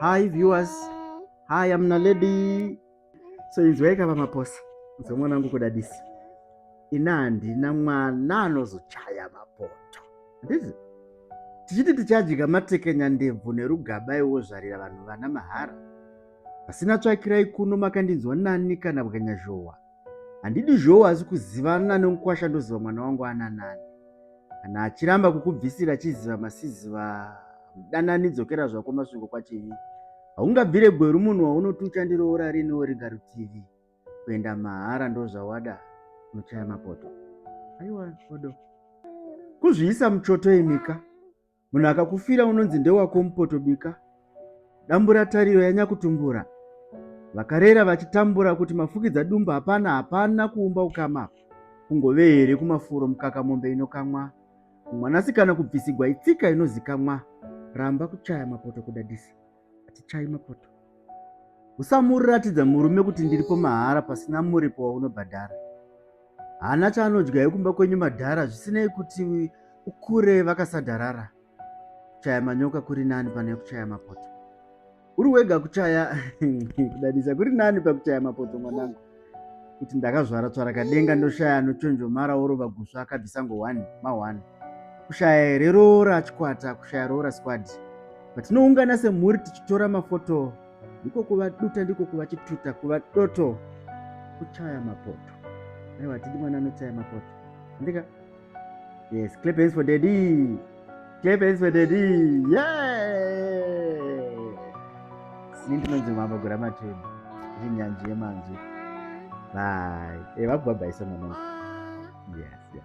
Hi viewers. Hi amna lady. So inzwai kava maposa. Nzwa mwana wangu kudadisa. Ina handina mwana anozochaya mapoto. Ndizi. Tichiti tichadya matekenya ndebvu nerugaba iwo zvarira vanhu vana mahara. Pasina tsvakirai kuno makandinzwa nani kana bwanya zhowa. handidi zvowo hasi kuzivana nemukwasha ndoziva mwana wangu ananani kana achiramba kukubvisira achiziva masiziva mudanani dzokera zvako masvingo kwachivi haungabvire gweru munhu waunoti uchandiroora riniwo riga rutivi kuenda mahara ndozvawada unochaya mapoto aiwa odo kuzviisa muchoto imika munhu akakufira unonzi ndewako mupotobika dambura tariro yanyakutumbura vakarera vachitambura kuti mafukidza dumba hapana hapana kuumba ukama kungove here kumafuro mukaka mombe inokamwa mwanasikana kubvisigwa itsika inozikamwa ramba kuchaya mapoto kudadisa hatichayi mapoto usamuratidza murume kuti ndiripo mahara pasina muripo waunobhadhara haana chaanodya yekumba kwenyu madhara zvisinei kuti ukure vakasadharara kuchaya manyoka kuri nani pane kuchaya mapoto uri wega kuchaya kudadisa kuri nani pakuchaya mapoto mwanangu kuti ndakazvara tsvarakadenga ndoshaya anochonjomara orova gusva akabvisa ngo 1 ma 1 kushaya here roora chikwata kushaya roora squad patinoungana semhuri tichitora mafoto ndiko kuva duta ndiko kuva chituta kuva doto kuchaya mapoto aiwa tidi mwana anochaya mapoto andika Yes, clap hands for daddy. Clap hands for daddy. Yeah. Ini ndinonzi mambo gura matema. Ini nyanji yemanzwi. Bye. Eh, vakubhabhaisa mama. Yes, yes.